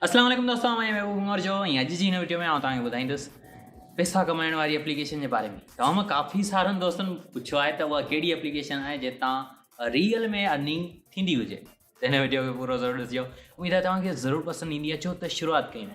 اسلام عليڪم دوستو آئون آهيان محبوب عمر جو ۽ اڄ جي هن وڊيو ۾ آئون توهان کي ٻڌائيندس پيسا ڪمائڻ واري اپليڪيشن جي باري ۾ توهان مان ڪافي سارن دوستن پڇيو آهي ته اها ڪهڙي اپليڪيشن آهي جنهن تان ريئل ۾ ارننگ ٿيندي هجي ته هن وڊيو کي پورو ضرور ڏسجو اميد آهي توهان کي ضرور پسند ايندي اچو ته شروعات ڪيون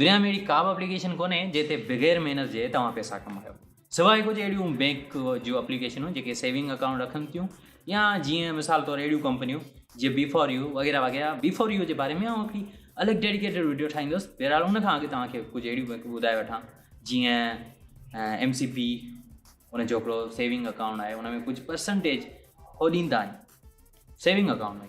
دنيا ۾ اهڙي ڪا به اپليڪيشن ڪونهي جنهن تي بغير محنت جي توهان پئسا ڪمايو سواء ڪجهه اهڙيون بئنڪ جون اپليڪيشنون جيڪي سيونگ اڪائونٽ رکن ٿيون يا جيئن مثال طور اهڙيون ڪمپنيون جي بي فور يو وغيره وغيره بي فور يو جي باري ۾ آئون هڪڙي الڳ ڊيڊيڪيٽيڊ ويڊيو ٺاهيندس بهرحال ان کان اڳ توهان کي ڪجهه اهڙيون بئنڪون ٻڌائي وٺان جيئن ايم سي پي ان جو هڪڙو سيونگ اڪائونٽ آهي ان ۾ ڪجهه پرسنٽيج هو ڏيندا آهن سيونگ اڪائونٽ ۾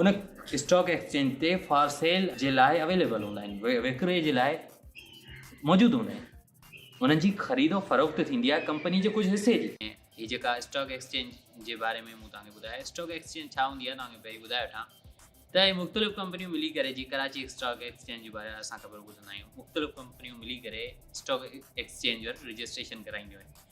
ان اسٽاڪ ايڪسچينج تي فار سيل جي لاء اويليبل هوندا آهن وڪري جي لاء موجود هوندا آهن انهن جي خريد و فروخت ٿيندي آهي ڪمپني جي ڪجهه حصي جي هي جيڪا اسٽاڪ ايڪسچينج جي باري ۾ مون توهان کي ٻڌايو اسٽاڪ ايڪسچينج ڇا هوندي آهي توهان کي پهرين ٻڌائي وٺان ته هي مختلف ڪمپنيون ملي ڪري جي ڪراچي اسٽاڪ ايڪسچينج جي باري اسان خبر ٻڌندا آهيون مختلف ڪمپنيون ملي ڪري اسٽاڪ ايڪسچينج ورڊ رجسٽريشن ڪرائينديون آهن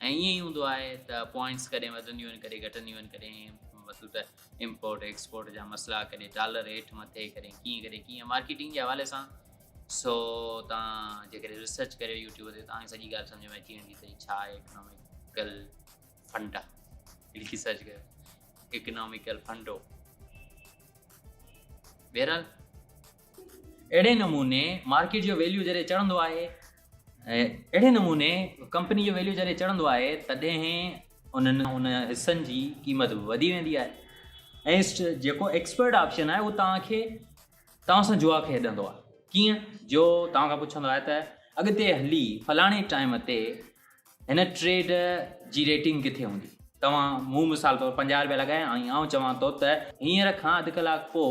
۽ ائين ئي هوندو آهي ته پوائنٽس ڪڏهن وڌنديون آهن ڪڏهن گهٽنديون آهن ڪڏهن مطلب ته امپورٽ ايڪسپورٽ جا مسئلا ڪڏهن ڊالر هيٺ مٿي ڪڏهن ڪيئن ڪڏهن ڪيئن مارڪيٽنگ جي حوالي سان سو تان جيڪڏهن ريسرچ ڪريو يوٽيوب تي تان سڄي ڳالهه سمجھ ۾ اچي ويندي ته ڇا آهي اڪناميڪل فنڊا لکي سرچ ڪريو اڪناميڪل فنڊو بهرحال اهڙي نموني مارڪيٽ جو ويليو جڏهن چڙهندو آهي اهڙي نموني ڪمپني جو ويليو جڏهن چڙهندو آهي تڏهن انهن ان حصن جي قيمت به وڌي ويندي آهي ۽ جيڪو ايڪسپرٽ آپشن آهي اهو توهان کي توهان سان جوا کيڏندو آهي ڪيئن جو توهان کان پڇندو آهي ته اڳتي هلي فلاڻي ٽائيم تي هن ٽريڊ جي ريٽنگ ڪٿي هوندي توهان مون مثال طور پنجاهه روپيا لڳايا ۽ آئون چوان ٿو ته هينئر کان اڌ ڪلاڪ پوء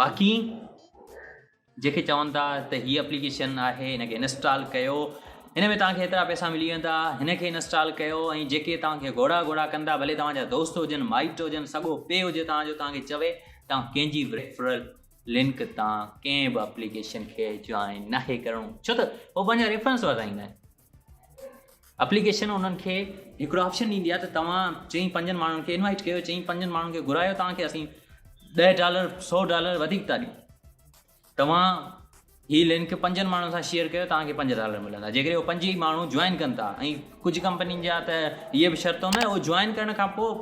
باقي جيڪي چون ٿا ته هي اپليڪيشن آهي هن کي انسٽال ڪيو هن ۾ توهان کي هيترا پئسا ملي ويندا هن کي انسٽال ڪيو ۽ جيڪي توهان کي گهوڙا گهوڙا ڪندا ڀلي توهان جا دوست هجن مائٽ هجن سڳو پي هجي توهان جو توهان کي چوي توهان ڪنهن جي ريفرل لنڪ تان ڪنهن به اپليڪيشن کي جوائن ناهي ڪرڻو ڇو ته هو پنهنجا ريفرنس وڌائيندا آهن اپليڪيشن انهن کي هڪڙو آپشن ڏيندي آهي ته توهان چئين پنجن ماڻهن کي انوائيٽ ڪيو چئين پنجن ماڻهن کي گهرايو توهان کي اسين ڏهه ڊالر سو ڊالر وڌيڪ ٿا ڏيون توهان هي لنڪ پنجن ماڻهن سان شيئر ڪيو توهان کي پنج ڊالر ملندا جيڪڏهن اهي پنج ئي ماڻهو جوائن ڪن ٿا ۽ ڪجهه ڪمپنين جا ته اهي به شرط هوندا اهو جوائن ڪرڻ کان پوء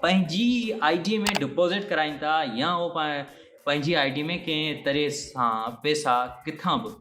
پنهنجي آئي ڊي ۾ ڊپوزٽ ڪرائين ٿا يا اهو پنهنجي آئي ڊي ۾ ڪنهن طرح سان پيسا ڪٿان به